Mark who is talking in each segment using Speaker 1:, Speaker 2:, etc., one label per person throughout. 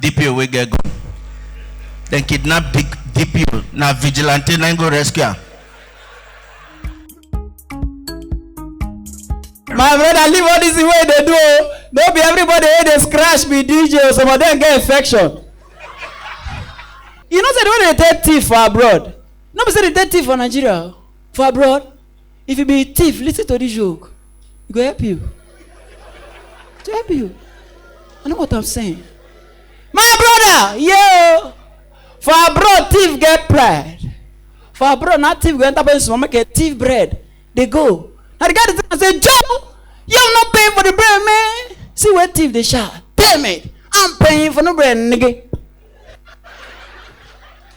Speaker 1: dpo wey get gun dem kidnap dpo na vigilante na im go rescue am my brother leave all this thing wey you dey do o no be everybody wey dey scratch be dj o some of them get infection you know say the way they dey take thief for abroad no be say they take thief for nigeria o for abroad If you be thief, listen to this joke. It go help you. It go help you. I know what I'm saying. My brother, yo, for abroad thief get pride. For abroad, not thief go enter person make a thief bread. They go. Now the guy dey tell am say, Joe, you have not paying for the bread, man. See where thief dey shout. Damn it, I'm paying for no bread, nigga.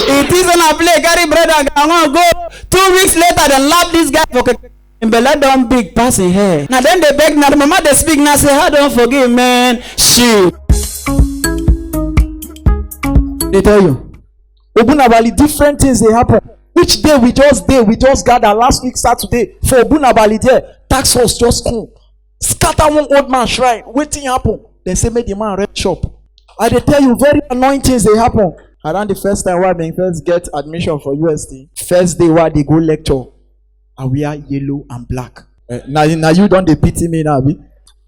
Speaker 1: It is on a play, carry bread and gangan go. Two weeks later, dem lap this guy for keke. Im belle don big pass im hair. Na dem dey beg, na the mama dey speak, na say, how don forgive man? Shit. They tell you. Obunabali, different things they happen. Which day we just day, we just gather last week Saturday for Obunabali there. Tax force just come. scatter one old man shrine wetin happen dem say make the man rent shop i dey tell you very annoying things dey happen around the first time wey i bin first get admission for usd first day wey i dey go lecture i wear yellow and black eh, na na you don dey pity me now abi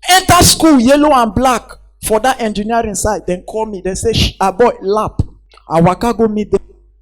Speaker 1: enter school yellow and black for that engineering side dem call me dem say aboy lap i waka go meet dem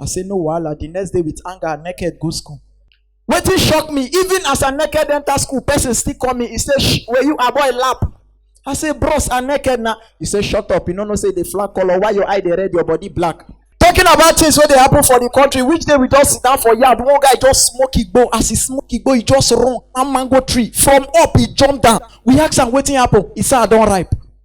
Speaker 1: I say no wahala. The next day with anger, naked go school. Wetin shock me, even as I naked enter school, person still call me. He say, "Shh, were you a boy lap? I say, bros, I naked now. He say, shut up. You no know say the flag color. Why your eye dey red, your body black? Talking about things wey dey happen for the country, which day we just sit down for yard, one guy just smoke igbo. As he smoke igbo, he just run one mango tree. From up, he jump down. We ask am wetin happen. He say, I don ripe.